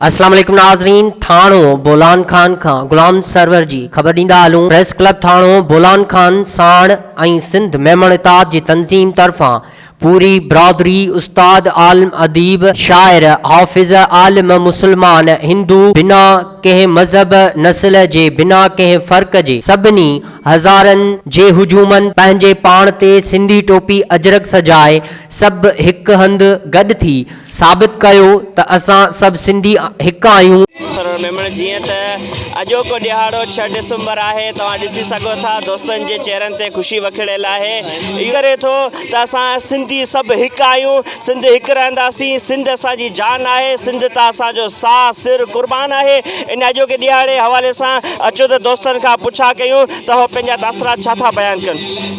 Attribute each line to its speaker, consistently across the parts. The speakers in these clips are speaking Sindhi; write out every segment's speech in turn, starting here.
Speaker 1: اسلام عليڪم ناظرين ٿاڻو بولان خان کان غلام سرور جي خبر ڏيندا هلون پريس ڪلب ٿاڻو بولان خان ساڻ ۽ سنڌ ميمڻ اتحاد جي تنظيم طرفان پوري برادري استاد عالم اديب شاعر حافظ عالم مسلمان هندو بنا ڪنهن مذهب نسل جي بنا ڪنهن فرق جي سڀني هزارن جي هجومن پنهنجي پاڻ تي سنڌي ٽوپي اجرڪ سجائي سڀ هڪ هنڌ گڏ ٿي ثابت ڪيو ته اسان سڀ سنڌي هڪ آهيون. ٿرور ميمڻ جيئن
Speaker 2: ته اڄوڪو ڏهاڙو ڇهه ڊسمبر آهي توهان ڏسي سگهو ٿا دوستن جي چهرن تي خوشي وکڙيل آهي اهو ڪري ٿو ته اسان سنڌي سڀ هڪ آهيون سنڌ هڪ رهنداسين سنڌ اسان جي جان آهي سنڌ تان اسان جو ساهه سر قربان آهي ان اڄوڪي ڏهاڙي حوالي سان اچو ته دوستن کان پڇا ڪيون ته اهو پنهنجا تاثرات ڇا ٿا بيان ڪن.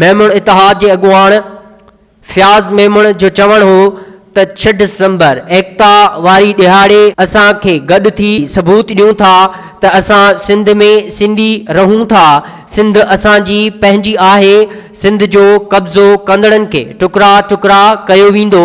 Speaker 3: ميمڻ
Speaker 1: اتحاد جي اڳواڻ فياض ميمڻ جو چوڻ هو ته ڇهه ڊسمبر ايڪتا واري ڏهاڙي اسان کي گڏ ٿي ثبوت ڏيون ٿا ته اسان سنڌ ۾ سنڌي رهون ٿا، سنڌ اسان جي پنهنجي آهي، سنڌ جو قبضو ڪندڙن کي ٽڪرا ٽڪرا ڪيو ويندو.